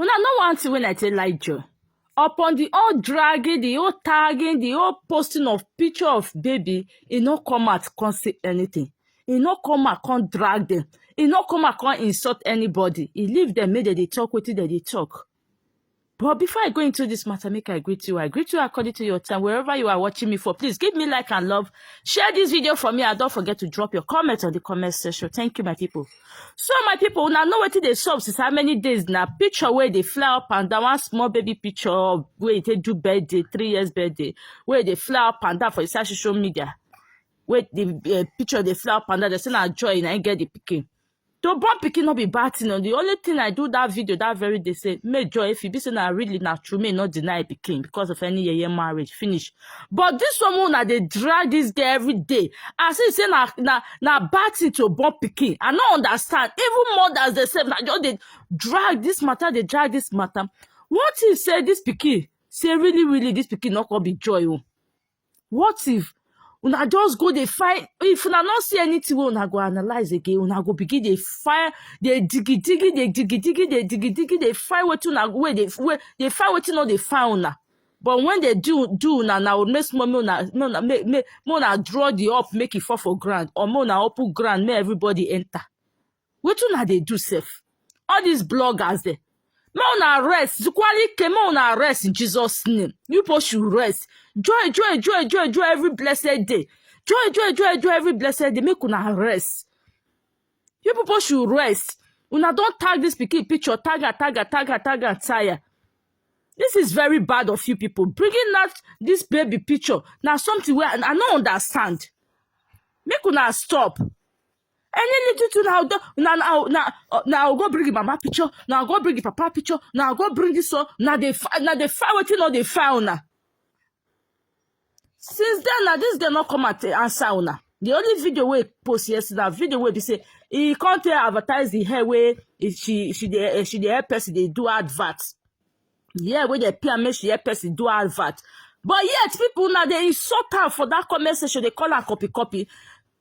Una know one thing when I tell like Joe. Upon the whole dragging, the whole tagging, the whole posting of picture of baby, e no come out come say anything. E no come out come drag them. E no come out come insult anybody. E leave them make dem dey talk wetin dem dey talk. But before I go into this matter, make I greet you. I greet you according to your time, wherever you are watching me for. Please give me like and love. Share this video for me and don't forget to drop your comment on the comment section. Thank you, my people. So my people, una know wetin dey sup since how many days na picture wey dey fly up and down, one small baby picture of wey e take do birthday, three years birthday, wey dey fly up and down for inside social media. Wey the uh, picture dey fly up and down, they say na joy na im get the pikin. To born pikin no be bad thing, o. the only thing I do that video that very day say make joy if e be say na really na true, make e no deny pikin because of any yeye marriage finish. but this one wey una dey drag this girl every day as if say na na na bad thing to born pikin i no understand even mothers dey sef na just dey drag this matter dey drag this matter what if say this pikin say really really this pikin no come be joy o what if una just go dey find if una no see anything wey una go analyse again una go begin dey find dey digi digi dey digi digi dey digi digi dey find wetin una wey dey wey dey find wetin no dey find una but when they do do una na old make small make una make una make make make una draw the up make e fall for ground or make una open ground make everybody enter wetin una dey do sef all these bloggers dem make una rest zukwalike make una rest in jesus name you people should rest joy joy joy joy joy every blessed day joy joy joy joy every blessed day make una rest You people should rest. Una don tag this pikin picture, tag her, tag her, tag her, tag her, tire. This is very bad of you people. Bringing out this baby picture na something wey I I no understand. Make una stop. Any little thing na go na na na uh, na go bring the mama picture, na go bring the papa picture, na go bring this one, na dey fi- na dey find wetin no dey find una. since then na this girl no come and t- answer una the only video wey post yesterday na video wey be say e come take advertise the hair wey e- she she dey eh, she dey help person dey do advert the hair wey dey pay am make she help person do advert but yet people na dey insult am for that comment section dey call am copy copy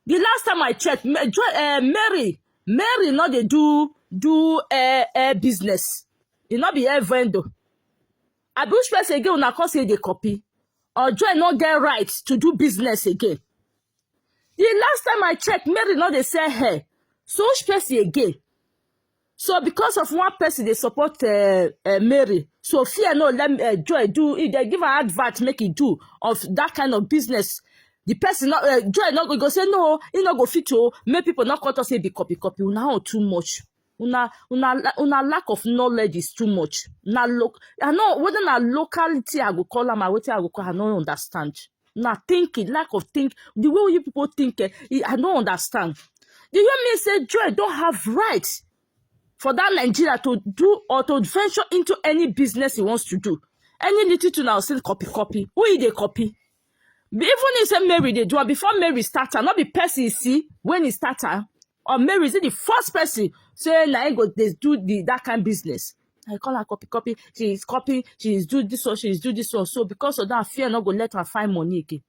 the last time i check Ma- Jo- eh, mary mary no dey do do eh, eh, business e no be hair vendor I be which person again una come say dey copy? Ojo no get right to do business again. The last time I checked, Mary no dey sell hair. So which person again? So because of one person they support uh, uh, Mary, so fear no let uh, Joy do. If they give her advert, make it do of that kind of business. The person not uh, Joy not go go say no, he not go fit to make people not cut us say be copy copy. Now too much. una una una lack of knowledge is too much na lo i know whether na locality i go call am or wetin i go call am i no understand na thinking lack of think the way wey you people think eh e- i no understand do you mean say joy don have right for that nigeria to do or to venture into any business he wants to do any little thing na go still copy copy who he dey copy Even if say Mary dey do am before Mary start am, no be person you see when he start am. Or Mary is it the first person say na him go dey do the that kind business. I call her copy copy. She is copy. She is do this one. She is do this one. So because of that, fear no go let her find money again.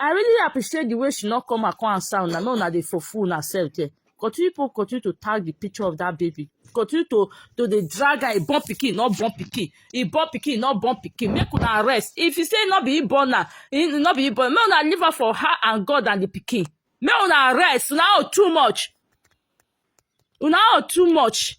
I really appreciate the way she not come and come and sound. I know now they for fool herself there. continue people continue to tag the picture of that baby continue to to dey drag her e born pikin no born pikin e born pikin no born pikin make una rest if you say no be e born na e no be e born make una leave her for her and god and the pikin make una rest una own too much una own too much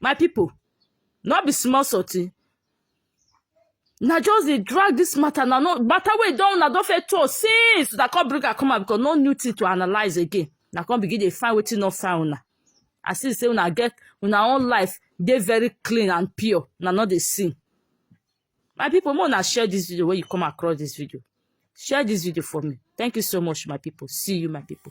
My pipu, no be small sottie, una just dey drag dis mata na, no mata wey don una don first talk since, una come bring am come out because no new tin to analyse again, una come begin dey find wetin no fine una, as if sey una get una own life dey very clean and pure, una no dey see. My pipu make una share dis video wey you come across dis video, share dis video for me, thank you so much my pipu, see you my pipu.